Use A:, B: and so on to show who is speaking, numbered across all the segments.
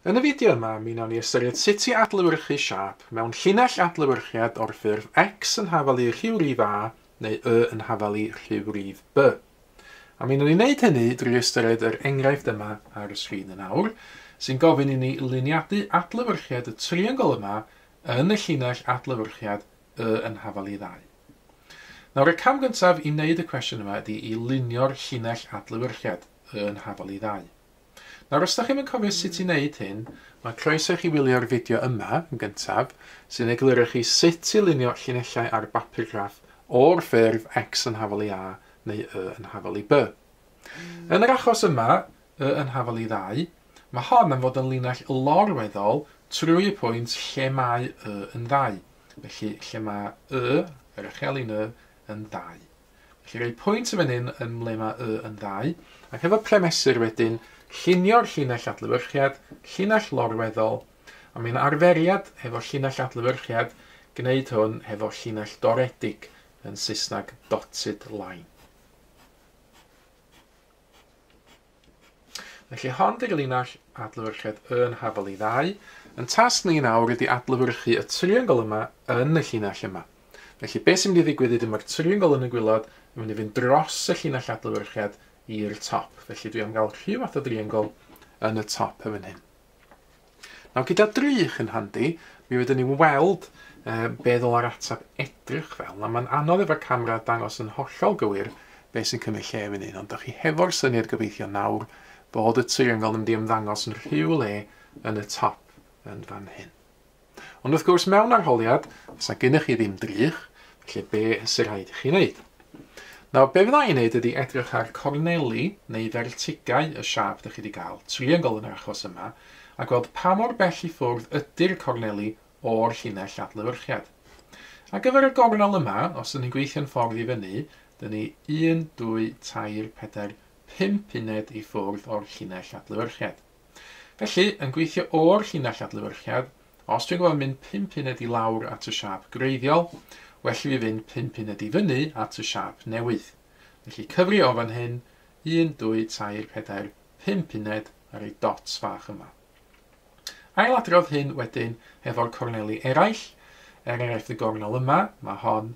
A: Yn y fideo yma, mi wnawn ni ystyried sut i adlewyrchu siâp mewn llinell adlewyrchiad o'r ffurf X yn hafal i rhywrif A neu Y yn hafal i rhywrif B. A mi wnawn ni wneud hynny drwy ystyried yr enghraifft yma ar y sgrin yn awr, sy'n gofyn i ni luniadu adlewyrchiad y triongl yma yn y llinell adlewyrchiad Y yn hafal i Ddau. Nawr, y cam gyntaf i wneud y cwestiwn yma ydy i lunio'r llinell adlewyrchiad, yn hafal i ddau. Nawr, os da chi'm yn cofio sut i wneud hyn, mae croeso i chi wylio'r fideo yma, yn gyntaf, sy'n egluro i chi sut i lunio llinellau ar bapur graff o'r ffurf X yn hafal i A neu Y yn hafal i B. Yn yr achos yma, Y yn hafal i ddau, mae hon am fod yn linell lorweddol trwy y pwynt lle mae Y yn ddau. Felly, lle mae y, yr echelin y, yn ddau. Felly, rhoi pwynt y fan hyn yn ble mae y yn ddau, ac efo premesur wedyn, llunio'r llinell adlywyrchiad, llinell lorweddol, a mae'n arferiad hefo llinell adlywyrchiad gwneud hwn hefo llinell doredig, yn Saesneg dotted line. Felly hon di'r linell adlewyrchiad yn hafal i ddau. Yn tasg ni nawr ydy adlewyrchu y triongl yma yn y llinell yma. Felly beth sy'n mynd i ddigwydd ydy mae'r triongl yn y gwylod yn mynd i fynd dros y llinell adlewyrchiad i'r top. Felly dwi am gael rhyw fath o driongl yn y top yn fan hyn. Nawr gyda drych yn handi, mi rydyn ni'n weld uh, be ddylai'r ateb edrych fel. A mae'n anodd efo'r camera dangos yn hollol gywir beth sy'n cymryd lle fan hyn, ond da chi hefo'r syniad gobeithio nawr bod y triongl yn mynd i ymddangos yn rhyw le yn y top yn fan hyn. Ond wrth gwrs, mewn arholiad, fysa gennych chi ddim drych, felly be sy'n rhaid i chi wneud? Nawr, be fydda i'n wneud ydy edrych ar corneli neu fertigau y siâp ydych chi wedi cael, triongl yn yr achos yma, a gweld pa mor bell i ffwrdd ydy'r corneli o'r llinell adlewyrchiad. Ar gyfer y gornel yma, os ydyn ni'n gweithio'n ffordd i fyny, dyn ni 1, 2, 3, 4, 5 uned i ffwrdd o'r llinell adlewyrchiad. Felly, yn gweithio o'r llinell adlewyrchiad, os dwi'n gorfod mynd pump uned i lawr at y siâp greiddiol, well i fi fynd pump uned i fyny at y siâp newydd. Felly cyfri o fan hyn, un, dwy, tair, pedair, pump uned ar y dots fach yma. Ailadrodd hyn wedyn hefo'r corneli eraill, er enghraifft y gornel yma, mae hon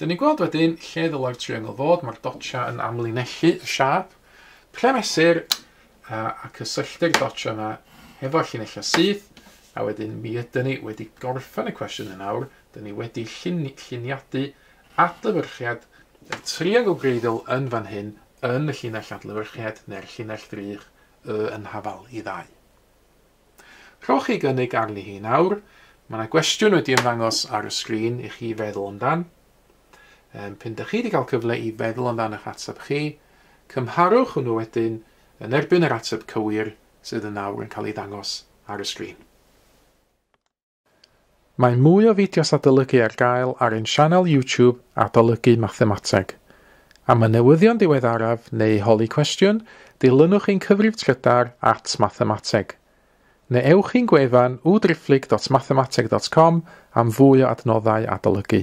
A: Dyn ni'n gweld wedyn lle ddylai'r triongl fod, mae'r dotsia yn amlinellu y siâp, ple mesur, a, a cysylltu'r dotsia yma hefo'r llinellau syth, a wedyn mi ydyn ni wedi gorffen y cwestiwn yn awr, dyn ni wedi llun, lluniadu adlewyrchiad y triongl gwreiddiol yn fan hyn yn y llinell adlewyrchiad neu'r llinell ddrych y yn hafal i ddau. Rhowch chi gynnig arni hi nawr. Mae yna gwestiwn wedi ymddangos ar y sgrin i chi feddwl amdan. Um, pyn da chi wedi cael cyfle i feddwl amdan eich ateb chi, cymharwch hwnnw wedyn yn erbyn yr ateb cywir sydd yn nawr yn cael ei ddangos ar y sgrin. Mae mwy o fideos adolygu ar gael ar ein sianel YouTube Adolygu Mathemateg. Am y newyddion diweddaraf neu i holi cwestiwn, dilynwch ein cyfrif trydar at Mathemateg. Neu ewch i'n gwefan www.driphlyg.mathemateg.com am fwy o adnoddau adolygu.